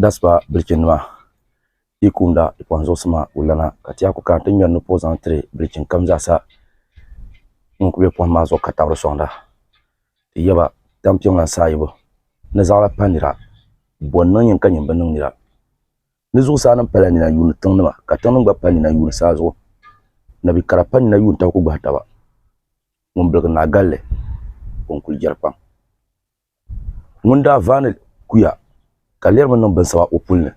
Daspa bilichini maa yi kumda di kpaŋ zuɣusi maa ka o lana ka ti yɛa ku kana ti ŋmɛri ni ka o zaŋ tiri bilichini kam zaa sa ŋun kuli bɛ pohim maa zuɣu ka tabiri sɔŋda ti yaba tampiŋ lan saha yibu ni zaɣila pa nira bɔn niŋ nyin ka nyin bi niŋ nira ni zuɣusaa nim pala nina yuuni tiŋ nima ka tiŋ nim gba pali nina yuuni saa zuɣu nabikara pa nina yuuni taba ku gbahi taba. Ŋun biligi naa galli ka o ni kuli jɛri kpaŋ. Ŋun daa vaani kuya ka lirimi niŋ binsaba o puli ni.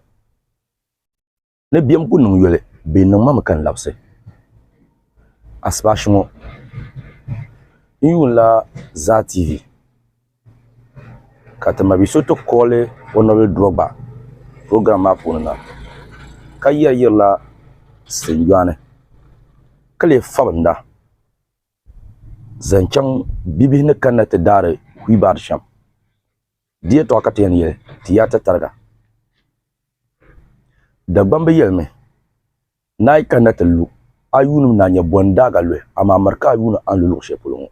Ni biɛm ku niŋ yoli bee niŋ ma mi ka n labisi. Asipashi ŋɔ n yuun la Zaa TV ka ti mabi so ti kooli Honorable Drogba program maa puuni na ka yɛri yirila Sitinjɔani ka lee fabi n da. Zaŋ chaŋ bibihi ni kanna ti daari huibaard shɛm. Di yɛltɔɣa ka ti yɛn yɛli ti yaa ti tariga. Dagbam bi yɛlimi, Naa yi kanna ti lu, a yuunim naa nyɛ bɔn daaga luhi, amaa miri ka a yuuni a ni lu luɣ shɛli polo ŋɔ.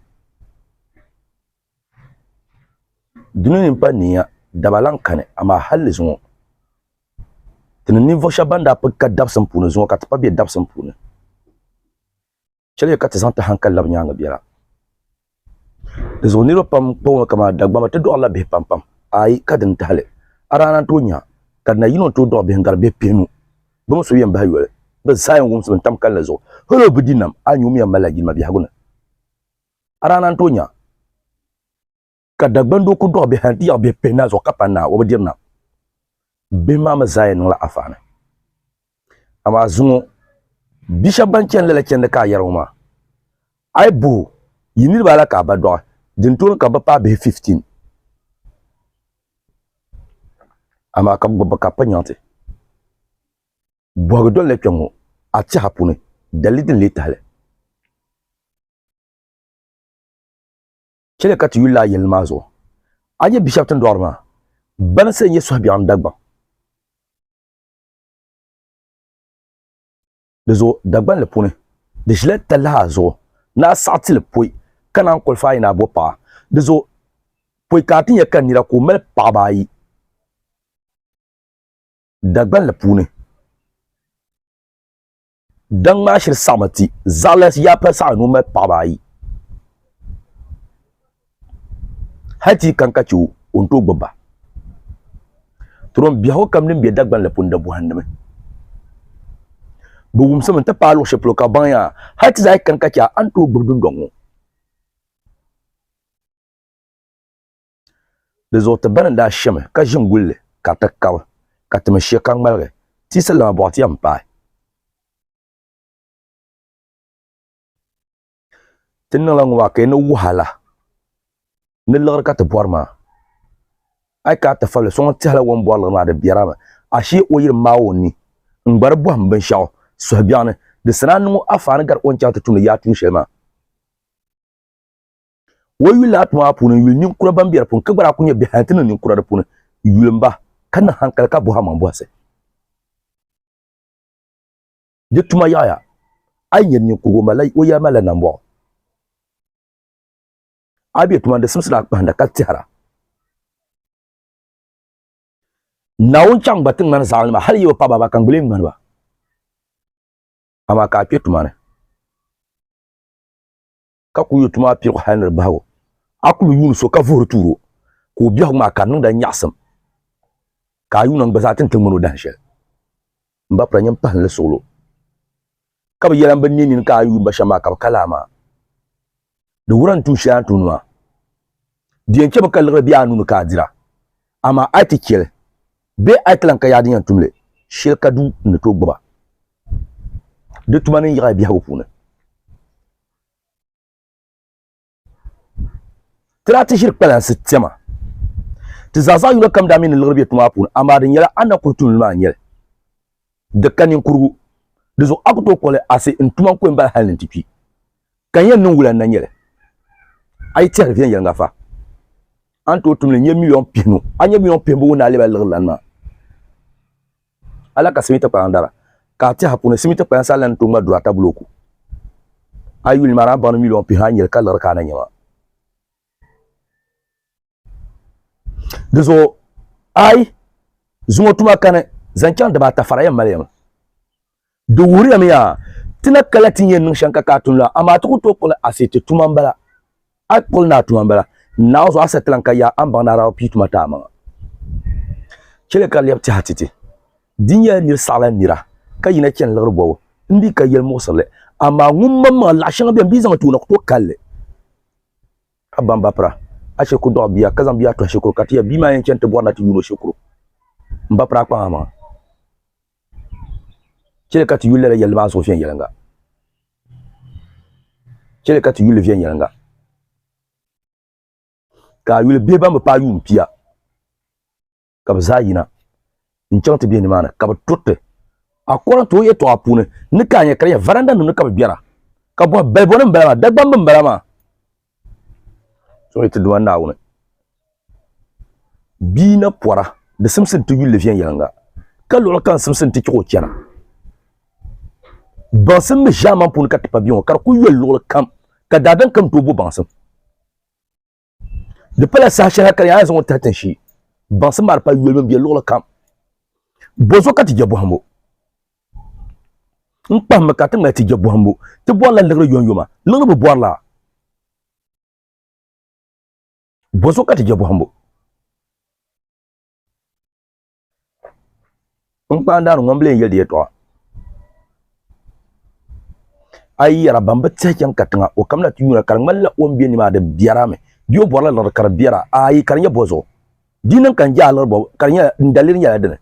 Duni ni m-pa niiya daba lan kani, amaa hal di zuŋɔ, ti ni ninvuɣ shɛb bɛn daa pig ka dabsim puuni zuŋɔ ka ti pa be dabsim puuni. chɛliya ka ti zaŋ ti hankali labi nyaaŋa biɛla. Di zuɣu niriba pam kpaŋ ŋɔ kamani Dagbamba ti dɔɣirila bihi pam pam ayi ka dini tahili a daa na tooi nya ka di na yino n-tooi dɔɣi bihi n-gari bihi pihinu bɛ mi so yɛn bahi yoli bɛ zaa yɛn wumsi bɛ ni tam kalinli zuɣu hal o bidinnim a ni yum yɛn malila jilima biɛhigu ni a daa na n-tooi nya ka Dagban doo ku dɔɣi bihi yaɣi bihi pihi naa zuɣu ka pa naa o bi diri nam bihi maa mi zaa yɛn niŋla afaani amaa zuŋɔ bia shɛba ban chani lala chandi ka a yɛri ŋɔ maa a yi buhi yi niriba ala ka a ba dɔɣi din tooni ka bi paai bihi 15 amaa ka gbubi bi ka pa nyaŋti bɔhigi doli la kpɛ ŋɔ a tɛha puuni dalili din lee tahili Chɛ li ka ti yulila a yɛlli maa zuɣu. A nyɛ bishɛb tin dɔɣiri maa, bansi n-nyɛ suhubiɛɣu ni Dagbaŋ. Di zuɣu Dagbanli puuni, di ʒila talahi zuɣu ni a saɣi ti li poi ka naan kolifa a yi ni a bo paɣa. Di zuɣu poi ka a ti nya ka nira ka o mali paɣiba ayi Dagbanli puuni. Daŋ maa shiri saɣimi ti zaɣila yaa pali saɣa ni o mali paɣaba ayi. Hali ti yi kan ka chɛ o, o ni tooi gbibi ba. Turom biɛhigu kam din be Dagban la pun da bɔhindimi. Bɛ wumsimi nti paai luɣ shɛli polo ka bɛ baŋya hali ti zaa yi kan ka chɛ a, a ni tooi gbibi dundɔŋ ŋɔ. Di zuɣu ti bani n-daa shemi ka ʒi n-guli li ka di ti kabi, ka ti mi she ka ŋmaligi tiisi lana bɔɣu ti yɛn paai. Ti ni niŋla ŋɔ maa ka yi ni wuhi a la, ni liɣiri ka ti bɔri maa. A yi ka a tifabili so ŋun tɛhila wɔm bɔri liɣiri maa di biɛri a mi, ashee o yi di maai o ni n-gba di bɔhim binshɛɣu suhubiɛɣuni di sani a niŋ o afaani gari o ni chaŋ ti tumdi yaatuun shɛli maa. o yuli laati maa puuni n yuli ninkura ban bɛ di puuni ka gba daa ku nyɛ bihi a ti niŋ ninkura di puuni yuli n ba ka niŋ hankali ka bɔha maŋ bɔhisi di tuma yaɣaya a yi nyɛ ninkurigu o yɛli malila nambɔɣu a bɛ tuma di simsila kpahinda ka tɛhira naawuni chaŋ gba ti ŋmani zaɣim nima hali yi bi pa baba ka n gbili ŋmani ba amaa ka a kpɛ tuma ni ka ku yo tuma pirigu hal ni di bahigu. A kul yuun so ka vuhiri tuur o, ka o biɛhigu maa ka di niŋd a nyaɣisim, ka a yuuna n-gba zaa ti ni ti ŋmani o dahin shɛli. M ba pula nyam pahim li suɣil o, ka bi yɛla m bi ne nini ka a yuun ba shɛm maa ka bi ka laa maa. Di wuhir a ni tuun shɛli a ni tumdi maa. Di yɛn chɛmi ka liɣiri be a nuu ni ka a dira, amaa a yi ti chɛ li, bee a yi ti lan ka yaɣi din yɛn tum li shɛli ka du n-ni tooi gbiba. Di tuma ni n yiɣi a biɛhigu puuni. Ti daa ti ʒiri kpalansi tɛma. Ti zaa zaɣ yino kam daa mi ni liɣiri be ti maa puuni, amaa di nyɛla a ni na kuri tuuli maa n-nyɛ li. Di ka ninkurigu. Di zuɣu a ku tooi kpuɣi li asi n-tuma n-ku yɛn bala hal ni n-ti kpi. Ka n yɛn niŋ wula n-na nyɛ li? A yi tɛhiri viɛnyɛliŋga fa, a ni tooi tum li n-nyɛ miliyon pihinu. A ni nyɛ miliyon pihimbu ŋun daa lɛbila liɣiri lana maa. Ala ka simiti kpayaŋ dara ka a tɛha puuni simiti kpayaŋ sa lan tuŋma duri ata bulooku. A yuli maa ni a baŋ ni miliɔn pihi anahi ka liɣiri ka a na nya maa. Di zuɣu a yi zuŋ o tuma kani zaŋ chaŋ dibaata fara yɛn mali ya mi. Di wuhiriya mi yaa, ti na kala ti ni yɛn niŋ shɛm ka ka a tuni la, amaa ti ku tooi kpuɣi li a si ti tuma m-bala. A kpuɣi li ni a tuma m-bala, naawuzuɣu a sa ti lan ka yaa a ni baŋ ni a daa bi pii tuma ti a maŋa. Chɛ li ka di lɛbi tɛha ti ti. Di nyɛla nir saɣila nira ka yina chani liɣiri bɔbu m-bi ka yɛli muɣisirili, amaa ŋun maŋmaŋa laɣ shɛŋa beni bɛ zaŋ n-ti o na ku tooi kal li. A baŋ ba pira, a shiri ku dɔɣi bia ka zaŋ bia tɔhi shikuru ka ti yɛli bia maa yɛn chani ti bɔri na ti yuun o shikuru m-ba piri a kpaŋ a maŋa. Chɛli ka ti yuli lala yɛlli maa zuɣu viɛnyɛliŋga. Chɛli ka ti yuli li viɛnyɛliŋga. Ka a yuli bihi ban bi paai yuun pia, ka bɛ zaa yina n-chaŋ ti bihi nimaani, ka bɛ turi ti, according to o yɛltɔɣa puuni, ni ka a nya ka di nyɛ varandanim ni ka bɛ biɛra, ka bɔhi, Balibonim m-bala maa? Dagbamb m-bala maa? So iti Duuma Naawuni. Bia na pɔra, di simsi nti yulli viɛnyɛliŋga, ka luɣili kam simsi nti chɛ ka o chana. Baŋsim mi ʒiɛman puuni ka ti pa bia ŋɔ, ka di kul yoli luɣili kam, ka daadam kam tooi bo baŋsim. Di pala saha shɛli ha ka di yaa zaŋ o tahi tinshee. Baŋsim maa di pala yolibu m-be luɣili kam. Bɔzuɣu ka ti je bɔhimbu. n kpahimmi ka ti ŋmali ti je bɔhimbu. Ti bɔrila liɣiri yomyoma. Liɣiri bi bɔrila. Bɔzuɣu ka ti je bɔhimbu. N kpaandaani ŋɔ m lee yɛli di yɛtɔɣa. A yi yɛra ban bi tihi chaŋ katiŋa o kamina ti yuuna ka di ŋmanila o ni be ni maa di biɛra mi bee o bɔrila liɣiri ka di biɛra? Aai, ka di nyɛ bɔzuɣu. Di yi niŋ ka n je a liɣiri bɔbu ka di nyɛla, n daliri nyɛla dini?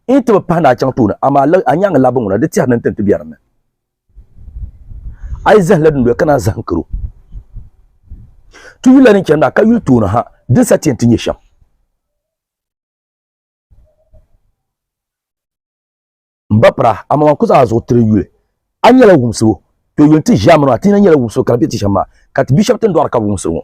n yi ti bi pahi ni a chaŋ tooni amaa lab a nyaŋ labi ŋuna di tɛri ni n tin ti bɛ dinni a yi zahim la dundoya ka naan zahim karo ti yuli la ni chani maa ka yuli tooni ha din sa ti ti nyɛ shɛm n ba pira amaa man ku zaŋ a zuɣu tiri yuli a nyɛla wumsibu to yuli ti ʒiɛmi maa ti nyɛla wumsibu ka di bɛ ti shɛm maa ka ti bia shɛba tin dɔɣiri ka bi wumsiri ŋɔ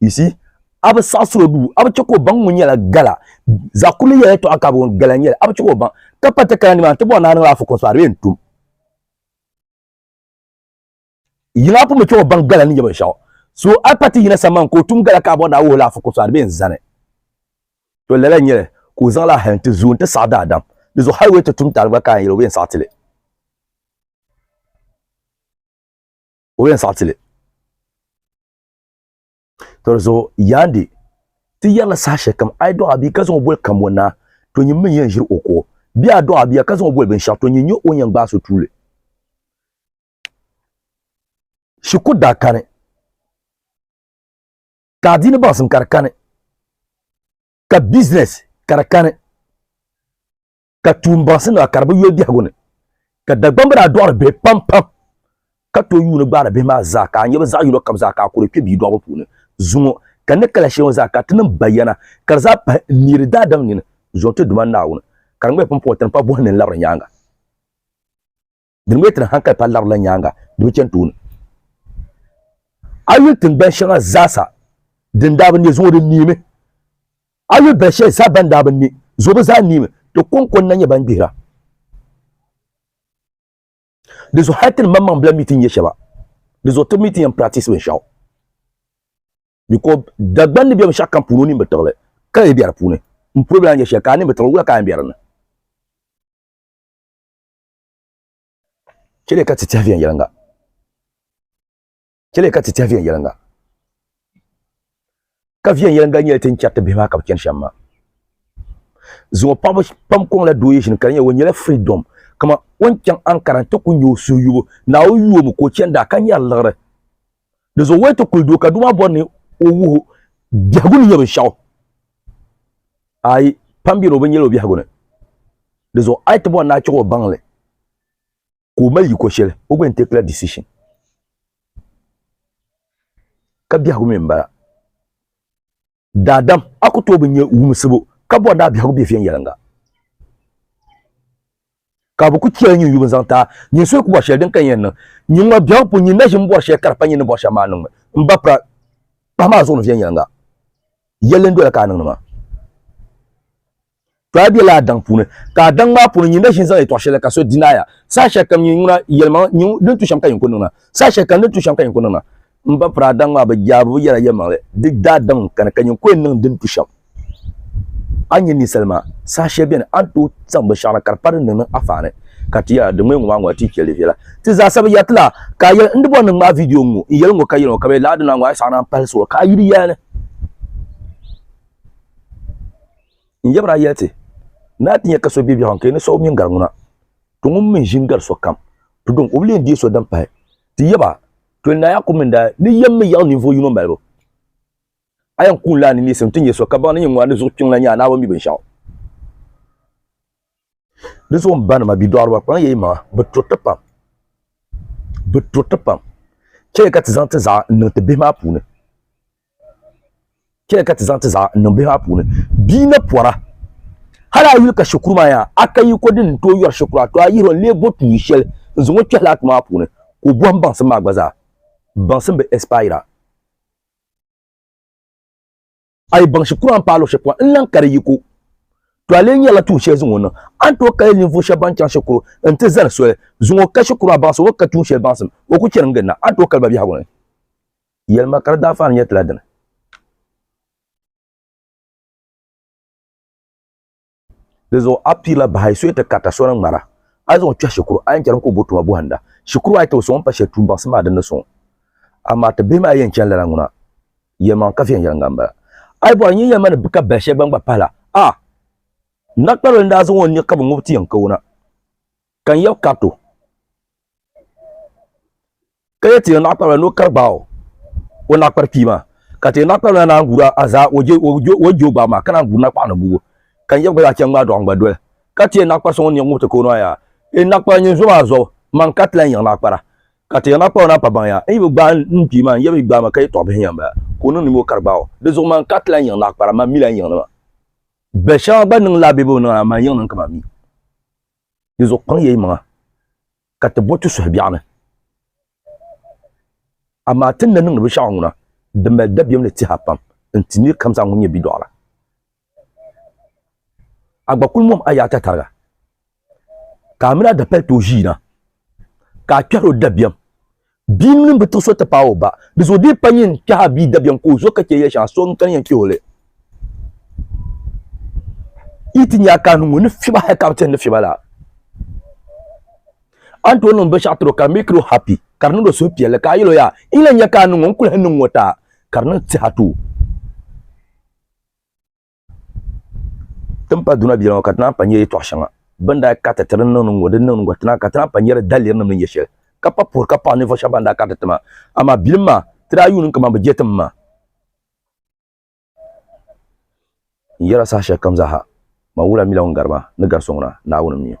You see? A bi saɣisiri o duu, a bi chɛ ka o baŋ ŋun nyɛla Gala. Zaɣ kurili yɛla yɛtɔɣa ka a bi ŋun Gala n-nyɛ li, a bi chɛ ka o baŋ. Ka pa takara nimaani ti bɔri ni a niŋla afukom so a di yɛn tum. Yiŋa a pun bi chɛ o baŋ Gala ni nyɛ binshɛɣu. So a pa ti yina sambani ka o tum Gala ka a bɔri ni a wuhila afukom so a di bɛn zani. To lala n-nyɛ li ka o zaŋla a hali n-ti zoo nti saɣi daadam. Di zuɣu hali o yɛn ti tum taali gba ka a yɛn yɛli o bi yɛn saɣi ti li. O bi yɛn saɣi ti li. tɔri zuɣu yaandi ti yɛrila saha shɛli kam a yi dɔɣi bia ka zaŋ o boli kambo naa to nyini min yɛn ʒiri o kuɣu bia a dɔɣi bia ka zaŋ o boli binshɛɣu to nyin nyɛ o yɛn gbaai so tuuli shikuru daa kani ka adiini baŋsim ka di kani ka bizinɛs ka di kani ka tuun baŋsi nima ka di bi yoli biɛhigu ni ka Dagbaŋ bi daa dɔɣiri bihi pam pam ka tooi yuuni gbaari bihi maa zaa ka a nya bɛ zaɣ yino kam zaa ka a kuri kpe bia dɔɣibu puuni zuŋɔ ka ni kala shɛli ŋɔ zaa ka ti niŋ bayana ka di zaa pahi n neeri daadam nini zuɣu n ti Duuma Naawuni ka di ŋmɛhi pumpɔŋɔ tiri pa buhi ni n labiri nyaaŋa. Di mi tiri hankali pa larila nyaaŋa di bi chani tooni. A yuli tiŋgbani shɛŋa zaasa din daa bi ne zuŋɔ di neemi. A yuli bɛn shɛli zaa ban daa bi ne zuŋɔ bɛ zaa neemi. Ti kɔŋko n-na nyɛ ban gbihira. Di zuɣu hali ti ni maŋ maŋ bila mi ti nya shɛba di zuɣu ti mi ti yɛn practice binshɛɣu because Dagban ni be binshɛɣu kam puuni o nini bi tiɣi li ka lee be di puuni. M-puhi bela nyɛ shɛli ka a nini bi tiɣi li wula ka a yɛn be di ni? Chɛliya ka ti tɛhi viɛnyɛliŋga. Chɛliya ka ti tɛhi viɛnyɛliŋga. Ka viɛnyɛliŋga nyɛla ti ni chɛri ti bihi maa ka bi chani shɛm maa. Zuŋɔ paɣaba pam kɔŋla doo yishini ka di nyɛla o nyɛla freedom kaman o ni chaŋ Ankara n-ti ku nya o suhuyubu Naawuni yuuomi ka o chani daa ka nyari liɣiri. Di zuɣu Wayto kuli du ka doo maa bɔri ni o wuhi o biɛhigu ni nyɛ binshɛɣu. Ayi, pam bɛ ni o bi nyɛli o biɛhigu ni. Di zuɣu a yi ti bɔri ni a chɛɣ o baŋli ka o mali yiko shɛli, o gba yɛn teekila decision. Ka biɛhigu mi m-bala. Daadam, a ku tooi bi nya wumsibu ka bɔri ni a biɛhigu be viɛnyɛliŋga. Ka bɛ ku chɛli nyin yubu n-zaŋ ti a, nyin suhu ku bɔri shɛli din ka yɛn niŋ. Nyin ŋɔ biɛhigu pun nyin na ʒi m-bɔri shɛli ka di pa nyin ni bɔri shɛm maa niŋ mi. M ba Pran, kpahim a zuɣu ni viɛnyɛliŋga. Yɛlli n-doya ka a niŋdi maa. To a bela a daŋ puuni, ka a daŋ maa puuni nyin na ʒin zaŋ yɛtɔɣ shɛli ka so dinaaya. Saha shɛli kam nyin ŋuna yɛlimaŋli, nyin din tu shɛm ka nyin ku niŋna. Saha shɛli kam din tu shɛm ka nyin ku niŋna. M ba piri a daŋ maa bɛ jaa bɛ bi yɛra yɛlimaŋli, di daa daŋ n kani ka nyin ku yɛn niŋ din tu shɛm. A nya ninsal maa, saha shɛli beni a ni tooi zaŋ binshɛɣu na ka di pa din ni niŋ a faani, ka ti yɛra, Di ŋmee ŋɔ maa ŋɔ a ti chɛ li viɛla. Ti zaa sa bi yɛri ti la, ka a yɛli, N di bɔri ni n ŋmaai vidio ŋ-ŋɔ, n yɛli ŋ-ŋɔ ka yɛli ŋɔ, ka bɛ lahi di ni a ŋɔ a yi saɣina a ni pahili soli ka a yi di yɛli ni. N yab daa yɛli ti, Ni a ti nya ka so be biɛhigu ni ka yi ni siɣi o mini gari ŋuna, to ŋun mi ʒini gari sokam, to dini ka o bi lee deei so din pahi. Ti yaba, Toli Naa Yaakubu mini daa ni yɛm mi yaɣi ninvuɣ yino malibu. A yɛn kuun lahi ni neesim ti nya so ka baŋ ni nyini ŋuna ni zuɣu kpiŋ la nya a naawuni mi binshɛɣu. di zuɣu n ba nima bidɔɣiriba kpaŋ yɛ yimaŋa bi turiti pam bi turiti pam chɛli ka ti zaŋ ti zaɣa n niŋ ti bihi maa puuni chɛli ka ti zaŋ ti zaɣa n niŋ bihi maa puuni bia na pɔra hali a yuli ka shikuru maa yaa a ka yi ko din tooi yɔri shikuru a to a yihiro n lee bo tuuli shɛli n zaŋ o kpɛhi laa tuma maa puuni ka o bɔhim baŋsim maa gba zaa baŋsim bi ɛsipayira a yi baŋ shikuru a ni paai luɣ shɛli pɔhim n-lan kari yiko, to a lee nyarila tuun shɛli zaŋ o niŋ. A ni tooi kali ninvuɣ shɛb bɛn chaŋ shikuru nti zani soli zuŋɔ ka shikuru maa baŋsim o ka tuun shɛli baŋsim o ku chani gilina, a ni tooi kali ba biɛhigu ni yɛlima ka di daa faani nyɛ ti la dini. Di zuɣu a piila bahi soya ti karita so ni ŋmara. A ni zaŋ o kpɛhi shikuru ayi n-charim ka o bo tuma bɔhinda. Shikuru ayi ti bi sɔŋ o ni pa shɛli tuun baŋsim maa dini ni sɔŋ. Amaa ti bihi maa yɛn chani lala ŋuna yɛlimaŋli ka viɛnyɛliŋga m-bala. A yi bɔri nyini yɛlima ni bi ka bali shɛli gba n-gba pahi la, a! Nakparilim daa zaŋ o ni nya ka bi ŋubi ti yɛn ka o na. Ka n yɛb Kato, ka yɛ ti o naɣikpariba ni o kari gbaai o naɣikpari kpii maa, ka ti o naɣikpariba na naan guur a zaa o je o gbaai maa, ka naan guur na kpaɣi ni gubu, ka n yɛb gba zaa chɛ ŋmaai dɔɣi n-gba doli. Ka ti o naɣikpari suŋ n-niɣi ŋubiti ka o ni a yaa, N naɣikpara nyin zo maa zuɣu, man ka ti lan yiɣi naɣikpara. Ka ti o naɣikpariba na pa baŋ yaa, N yi bi gbaai n kpii maa, n yɛb yi gbaai ma ka yi tɔɣi bihi yɛn bala, ka o niŋ nima o kari gbaai o. Di zuɣu man ka ti lan yiɣi naɣikpara, man mi lan yiɣi nima. Bɛ shɛba gba niŋ la bɛ bi niŋ la, man yiɣi niŋ ka man mi. di zuɣu kpaŋ ya yimaŋa, ka ti bo ti suhu biɛɣuni. Amaa ti ni na niŋdi binshɛɣu ŋuna, di mali dabiɛm ni tɛha pam n-ti nir kam zaa ŋun nyɛ bidɔɣira. A gba kul mom a yaata tariga, ka a min a dapali tooi ʒiina, ka a kpɛhir o dabiɛm Bia mini bi ti so ti paai o ba. Di zuɣu di pa nyin kpɛh a bia dabiɛm ka o zo ka chɛ ya shɛŋa, so n-kani yɛn kpɛh o li. Yi ti nya a kaanu ŋɔ ni fiba hali ka a bi ti ni fiba la, a ni tooi niŋ binshɛɣu tiri o ka di make o happy, ka di niŋdi o suhupiɛlli ka a yɛl o yaa n yi lahi nya kaanu ŋɔ n kuli hi niŋ ŋɔ taa ka di niŋ ti ha too. tin pa duna biɛla ŋɔ ka tinaa pa nyɛ yɛtɔɣ shɛŋa bin daa kariti ti din niŋdi ŋɔ din niŋdi ŋɔ tinaa ka tinaa pa nyɛri daliri nim ni nyɛ shɛli ka pa puhiri ka paɣi ninvuɣ shɛba ban daa kariti ti maa amaa bilim maa ti daa yuuni kaman bɛ je tim maa n yɛra saha shɛli kam zaa ha man wula mila ŋun gari maa ni gari so ŋuna Naawuni m-mi o.